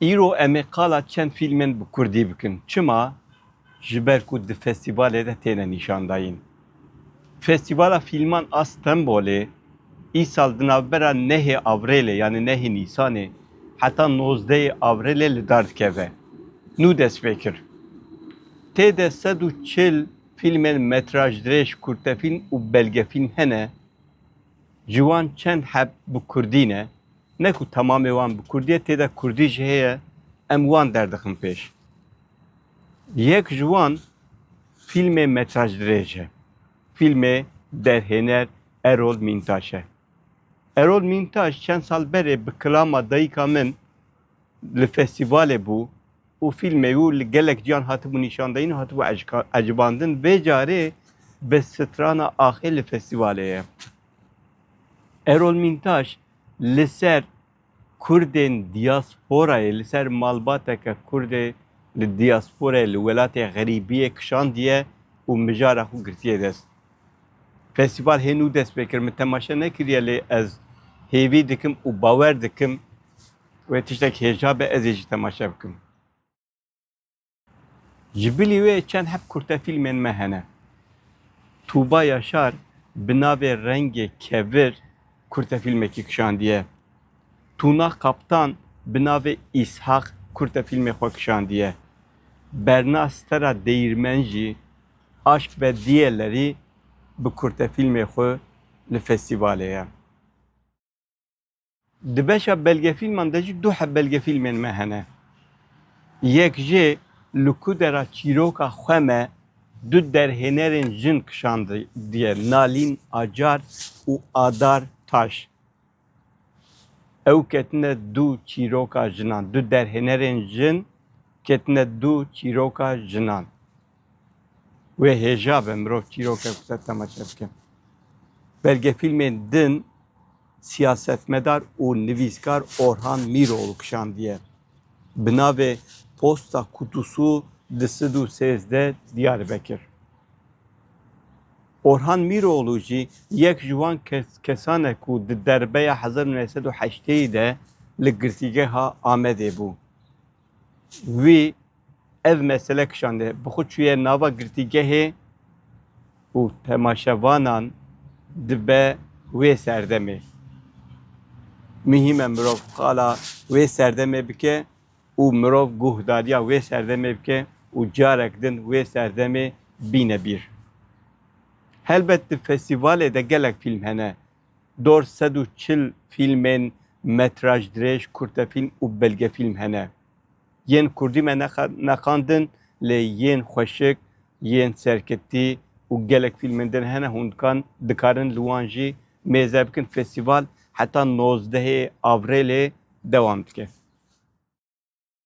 Îro em ê qala çend fîlmên bi kurdî bikin. Çima? Ji ber ku di festîvalê de têne nîşandayîn. Festîvala Fîlman a Stenbolê îsal di navbera nehê Avrêlê yanî nehê Nîsanê heta nozdeyê Avrêlê li dar dikeve. Nû dest pê kir. Tê de sed û çil Fîlmên metrajdirêj, kurtefîlm û belgefîlm hene ji wan çend heb bi kurdî ne, ne ku temamê wan bi kurdî ye tê de kurdî jî heye em wan derdixin pêş. Yek ji wan fîlmê metrajdirêj e. Fîlmê derhêner Erol Mîntaş e. Erol Mîntaş çend sal berê bi kilama dayika min li festîvalê bû, û fîlmê wî li gelek ciyan hatibû nîşandayîn û hatibû ecbandin vê carê bi strana axê li festîvalê ye. Erol Mîntaş li ser Kurdên diyasporayê li ser malbateke Kurdê li diyasporayê li welatê xerîbiyê kişandiye û mijara xwe girtiye dest. Festîval hê nû dest pê kir min temaşe nekiriye lê ez hêvî dikim û bawer dikim Wê tiştek hêja be ez ê jî temaşe bikim. Ji bilî wê çend heb kurtefîlmên me hene. Tûba Yaşar bi navê Rengê Kevir kurtefîlmekî kişandiye. Tûna Kaptan bi navê Îshak kurtefîlmê xwe kişandiye. Berna Stera Deyîrmen jî Aşk ve Diyeleri bi kurtefîlmê xwe li festîvalê ye. Di beşa belgefîlman de jî du heb belgefîlmên me hene. Yek jê li ku de ra çîroka xwe me du derhênerên jin kişandiye Nalîn Acar û Adar Taş. Ew ketine du çîroka jinan, du derhênerên jin ketine du çîroka jinan. Wê hêja be mirov çîroke ku te temaşe bike. Belgefîlmên din siyasetmedar û nivîskar Orhan Mîroğlu kişandiye. Bi navê Posta Kutusu di sid û sêzdeh Diyarbekir. Orhan Mîroğlu jî yek ji wan kesan e ku di derbeya hezar û neh sed û heşteyê de li girtîgeha Amedê bû. Wî ev mesele kişande. Bi xwe çûye nava girtîgehê û temaşevanan dibe wê serdemê. Mihîm e mirov qala wê serdemê bike û mirov guhdariya wê serdemê bike û carek din wê serdemê bîne bîr. Helbet di festîvalê de gelek fîlm hene Dor sed û çil fîlmên metraj dirêj, kurtefîlm û belgefîlm hene. Yên kurdî me nexandin lê yên xweşik, yên serketî û gelek fîlmên din hene hûn dikan dikarin li wan jî mêze bikin. Festîval heta nozdehê Avrêlê dewam dike.